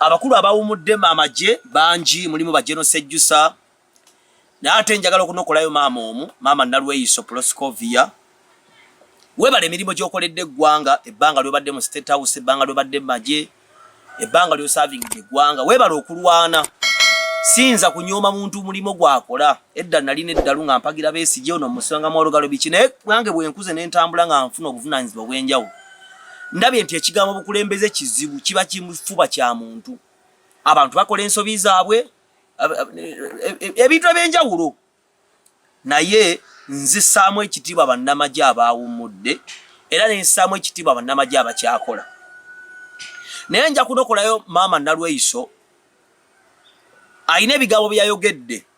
Abakulu abawumudde amagye bangi mulimu Bajeno Sejjusa naye ate njagala okunokolayo maama omu maama Nalweyiso Proscovia webale emirimu gyokoledde eggwanga ebbanga lyobadde mu State House ebbanga lyobadde magye ebbanga lyosavingidde eggwanga webale okulwana siyinza kunyooma muntu mulimu gwakola edda nalina eddalu nga mpagira besigye ono musanga mwolugalo biki naye nange bwenkuze nentambula nga nfuna obuvunanyizibwa obwenjawulo ndabye nti ekigambo bukulembeze kizibu kiba kimufuba kya muntu abantu bakola ensobi zaabwe ebintu ebyenjawulo naye nzisaamu ekitiibwa bannamagye abaawummudde era nensaamu ekitiibwa bannamagye abakyakola naye nja kunokolayo maama nalweyiso alina ebigambo byeyayogedde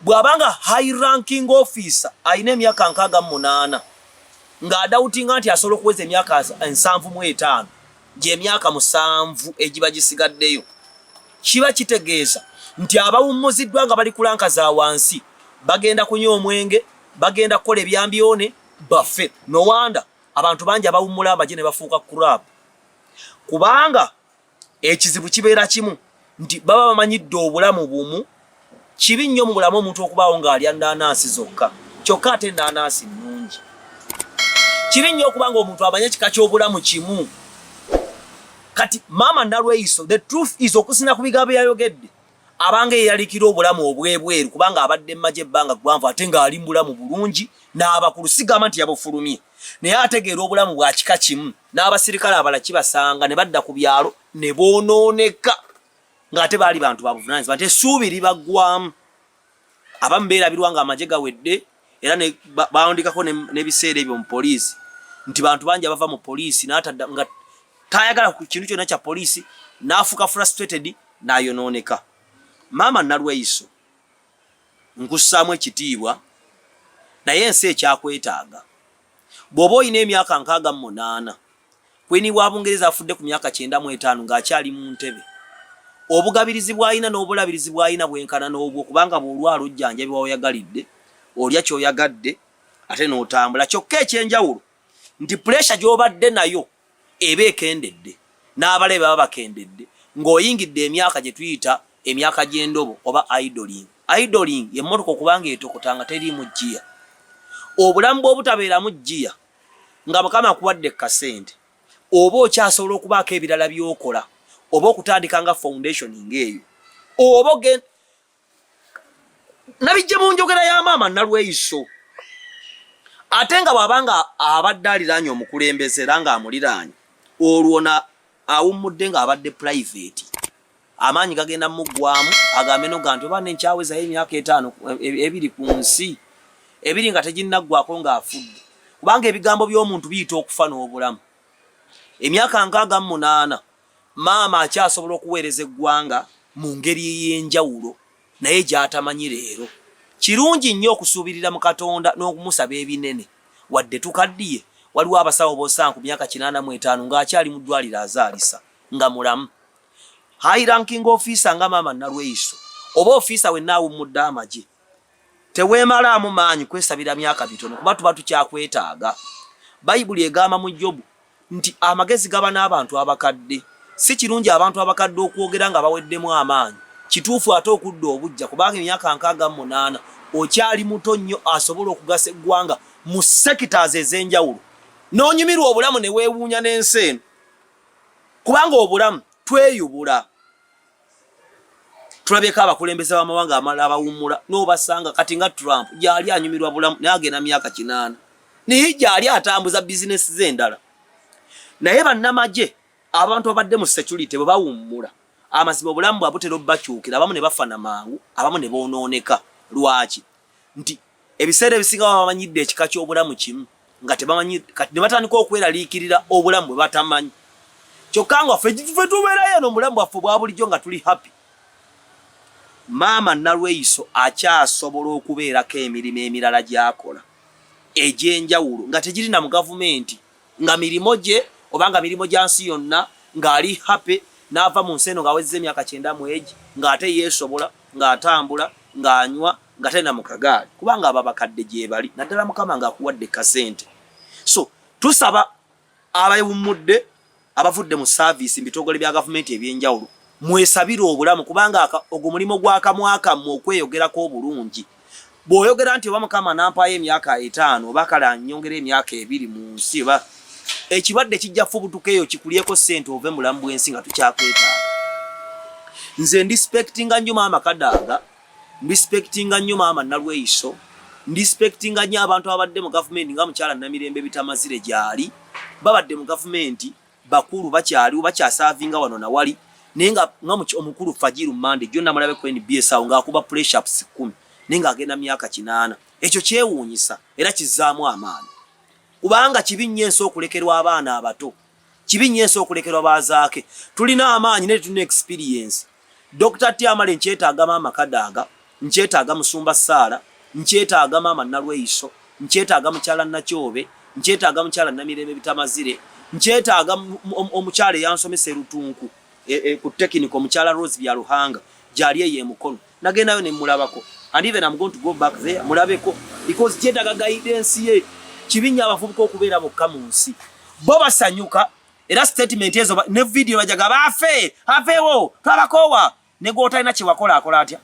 bwabanga high ranking officer alina emyaka nkaaga munaana nga adawutinga nti asobola okuweza emyaka ensanvu mu etaano gyemyaka musanvu egiba gisigaddeyo kiba kitegeeza nti abawummuziddwa nga bali kulanka za wansi bagenda kunywa omwenge bagenda kukola ebyambyone baffe nowanda abantu bangi abawummula amagye ne bafuuka kurab kubanga ekizibu kibeera kimu nti baba bamanyidde obulamu bumu kibi nnyo mu bulamu omuntu okubaawo ng'alya nnaanansi zokka kyokka ate nnaanansi nnungi kibi nnyo okuba nga omuntu amanye ekika ky'obulamu kimu kati maama nalweyiso the truth is okusina ku bigambo yayogedde abanga eyalikira obulamu obwebweru kubanga abadde mmaje ebbanga ggwanvu ate ng'ali mu bulamu bulungi n'abakulu sigamba nti yabufulumye naye ategeera obulamu bwa kika kimu n'abasirikale abala kibasanga ne badda ku byalo ne boonooneka ng'ate baali bantu babuvunaanyizibwa nti essuubi libaggwamu abamu beerabirwa nga amagye gawedde era bawandikako n'ebiseera ebyo mu poliisi nti bantu bangi abava mu poliisi n'atadda nga tayagala ku kintu kyonna kya poliisi n'afuuka frustrated n'ayonooneka maama nalweyiso nkussaamu ekitiibwa naye ensi ekyakwetaaga Bw'oba olina emyaka nkaaga mu munaana, Kwiini wa Bungereza afudde ku myaka kyenda mu etaano ng'akyali mu ntebe. Obugabirizi bw'alina n'obulabirizi bw'alina bwenkana n'obwo kubanga bw'olwala ojjanjabibwa w'oyagalidde, olya ky'oyagadde ate n'otambula kyokka eky'enjawulo nti puleesha gy'obadde nayo eba ekendedde n'abalabe baba bakendedde ng'oyingidde emyaka gye tuyita emyaka gy'endobo oba idling. Idling ye mmotoka okuba ng'etokota nga teriimu ggiya. Obulamu bw'obutabeeramu ggiya nga Mukama akuwadde ku kasente oba okyasobola okubaako ebirala by'okola oba okutandika nga foundation ng'eyo oba nabijja mu njogera ya maama nalweyiso ate nga bwaba nga abadde aliraanye omukulembeze era nga amuliraanye olwo na awummudde nga abadde private amaanyi gagenda muggwamu agambe no ganti oba nenkyawezayo emyaka etaano e-, ebiri ku nsi ebiri nga teginnaggwako ng'afudde kubanga ebigambo by'omuntu biyita okufa n'obulamu emyaka nkaaga mu munaana Maama akyasobola okuweereza eggwanga mu ngeri ey'enjawulo naye gy'atamanyi leero. Kirungi nnyo okusuubirira mu Katonda n'okumusaba ebinene. Wadde tukaddiye, waliwo abasawo b'osanga ku myaka kinaana mu etaano ng'akyali mu ddwaliro azaalisa nga mulamu. High Ranking Officer nga Maama Nalweyiso oba ofiisa wenna awummudde amagye. Teweemalaamu maanyi kwesabira myaka mitono kuba tuba tukyakwetaaga. Bayibuli egamba mu Jobu nti amagezi gaba n'abantu abakadde. Si kirungi abantu abakadde okwogera nga baweddemu amaanyi. Kituufu ate okudda obuggya kubanga emyaka nkaaga mu munaana okyali muto nnyo asobola okugasa eggwanga mu sectors ez'enjawulo n'onyumirwa obulamu ne weewuunya n'ensi eno kubanga obulamu tweyubula. tulabyeko abakulembeze bamawanga amala abawummula nobasanga kati nga trump gyali anyumirwa bulamu naye agenda myaka kinaana naye gyali atambuza bizinesi ze endala naye bannamagye abantu abadde mu security bwe bawummula amazima obulamu bwabutera obubakyukira abamu ne bafana mangu abamu ne bonooneka lwaki nti ebiseera ebisinga baba bamanyidde ekika ky'obulamu kimu nga tebamanyi kati ne batandika okweraliikirira obulamu bwe batamanyi kyokka nga ffe fe tubeerayo eno obulamu bwaffe obwa bulijjo nga tuli happy maama nalweyiso akyasobola okubeerako emirimu emirala gy'akola egy'enjawulo nga tegiri na mu gavumenti nga mirimu gye oba nga mirimu gya nsi yonna ng'ali happy n'ava mu nsi eno ng'awezza emyaka kyenda mu egi ng'ate yeesobola ng'atambula ng'anywa nga tena mu kagaali kubanga aba bakadde gyebali naddala mukama ng'akuwadde kasente so tusaba abawummudde abavudde mu saaviisi mu bitongole bya gavumenti eby'enjawulo mwesabire obulamu kubanga ogwo mulimu gwa kamwa kammwe okweyogerako obulungi bw'oyogera nti oba mukama nampaayo emyaka etaano oba kale anyongera emyaka ebiri mu nsi oba ekirwadde kijja fubutuka eyo kikulyeko ssente ove mulamu bw'ensi nga tukyakwetaaga nze ndispektinga nnyo maama kadaaga Respectinga nnyo maama Nalweyiso, respectinga nnyo abantu ababadde mu gavumenti nga mukyala Namirembe Bitamazire gyali babadde mu gavumenti bakulu bakyaliwo bakyasavinga wano na wali naye nga nga omukulu Fajiru Mande jjo namulabe ku NBS awo ng'akuba pressure ups kkumi naye ng'agenda myaka kinaana. Ekyo kyewuunyisa era kizzaamu amaanyi kubanga kibi nnyo ensi okulekerwa abaana abato. Kibi nnyo ensi okulekerwa ba Zaake. Tulina amaanyi naye tetulina experience. Dokita Tyamale nkyetaaga maama Kadaga, nkyetaaga Musumba Saala, nkyetaaga maama Nalweyiso, nkyetaaga mukyala Nakyobe, nkyetaaga mukyala Namirembe Bitamazire, nkyetaaga omukyala eyansomesa e Lutunku e, e, ku tekiniko mukyala Rose Byaruhanga gyali eyo e Mukono. nagendayo ne mulabako and even I'm going to go back there mulabeko because kyetaga guidance ye kibinya abavubuka okubeera bokka mu nsi bo basanyuka era statement ezo ne video bajaga bafe afewo twabakowa ne gwotalina kyewakola akola atya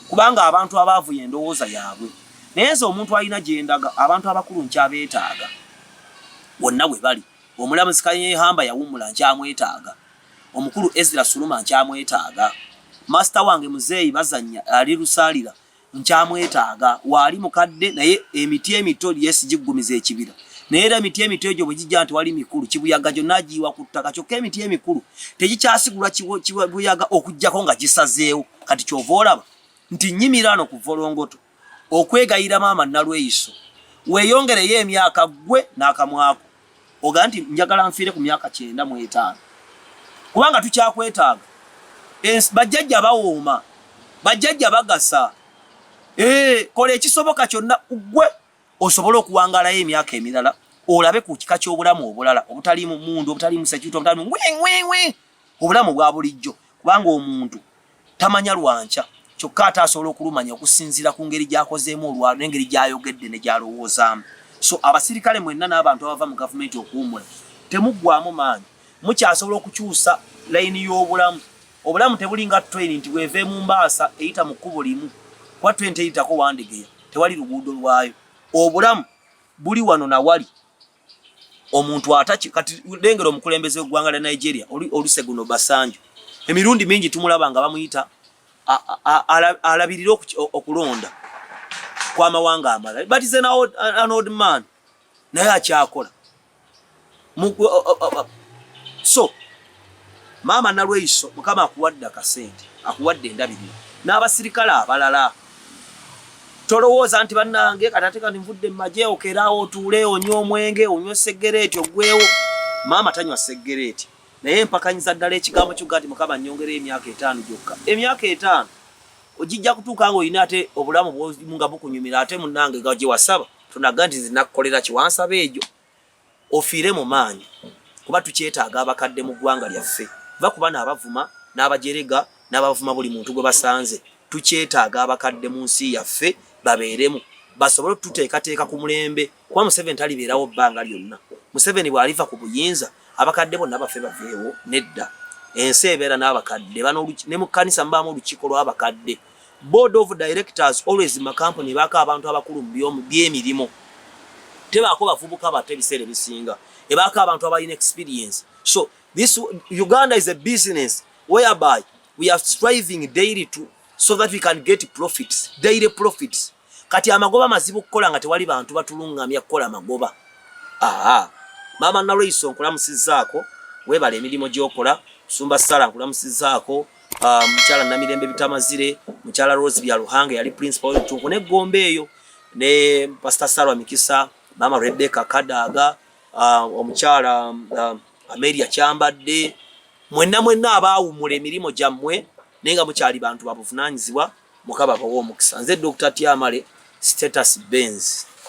kubanga abantu abaavu yendowooza yaabwe naye nze omuntu alina gyendaga abantu abakulu nkyabeetaaga wonna we bali Omulamuzi Kanyehamba yawummula nkyamwetaaga. Omukulu Ezra Suluma nkyamwetaaga. Maasita wange Muzeeyi Bazannya ali Lusaalira nkyamwetaaga. Waali mukadde naye emiti emito yes giggumiza ekibira naye era emiti emito egyo bwe gijja tewali mikulu kibuyaga gyonna agiyiwa ku ttaka kyokka emiti emikulu tegikyasigulwa kibuyaga okuggyako nga gisazeewo kati kyova olaba nti nnyimiraano ku volongoto. okwegayira maama nalweyiso weyongereyo emyaka gwe nakamwako oga nti njagala nfiire ku myaka kyenda mu etaano kubanga tukyakwetaaga bajjajja bawooma bajjajja bagasa eh, kola ekisoboka kyonna gwe osobole okuwangalayo emyaka emirala olabe ku kika ky'obulamu obulala obutaliimu mundu obutaliimu sekiuti obutaliimu obulamu obwa bulijjo kubanga omuntu tamanya lwankya kyokka ate asobola okulumanya okusinziira ku ngeri gy'akozeemu olwalo n'engeri gy'ayogedde ne gy'alowoozaamu so abasirikale mwenna n'abantu abava mu gavumenti okuwumula temuggwamu maanyi mukyasobola okukyusa layini y'obulamu obulamu tebulinga train nti bweva emumbaasa eyita mu kkubo limu kuba train teyitako wandegeya tewali luguudo lwayo obulamu buli wano nawali omuntu ataki kati lengera omukulembeze w'eggwanga lya Nigeria Olusegun Obasanjo emirundi mingi tumulaba nga bamuyita alabirire okulonda kw'amawanga amalala but is an old, an old man naye akyakola so Maama Nalweyiso mukama akuwadde akasente akuwadde endabirira n'abasirikale abalala tolowooza nti bannange katate kati nvudde mumaje okeraawo otuule onywa omwenge onywa seggereeti oggwewo maama tanywa seggereeti naye mpakanyiza ddala ekigambo kyokka nti mukama nyongera emyaka etaano gyokka emyaka etaano ogijja kutuuka nga olina ate obulamu bwomu nga bukunyumira ate munnange nga gye wasaba tonaga nti nzinakukolera kiwansaba egyo ofiire mu maanyi kuba tukyetaaga abakadde mu ggwanga lyaffe. Vva ku bano abavuma n'abajerega n'abavuma buli muntu gwe basanze. Tukyetaaga abakadde mu nsi yaffe babeeremu basobole otuteekateeka ku mulembe kuba Museveni talibeerawo bbanga lyonna. Museveni bw'aliva ku buyinza abakadde bonna bafe baveewo? Nedda. Ensi ebeera n'abakadde ne mu kkanisa mubaamu olukiiko lw'abakadde. Board of directors always makampuni baka abantu abakulu byemirimu tebaako bavubuka bato ebiseera ebisinga ebaako abantu abalina experience so this Uganda is a business whereby we are striving daily to so that we can get profits daily profits Kati amagoba mazibu kukola nga tewali bantu batulungamya kukola magoba. Aha. Mama Nalweyiso nkulamusizaako webale emirimu gyokola. Musumba Sara nkulamusizaako. Uh, ah, mukyala Namirembe Bitamazire, mukyala Rose Byaruhanga yali principal w'ebitunku ne Gombe eyo ne Pastor Sarah Mikisa, mama Rebecca Kadaga, uh, omukyala uh, Amelia Kyambadde, mwenna mwenna abaawumula emirimu gyammwe naye nga mukyali bantu babuvunanyizibwa. mukaba bawa omukisa nze Dr. Tyamale status Benz.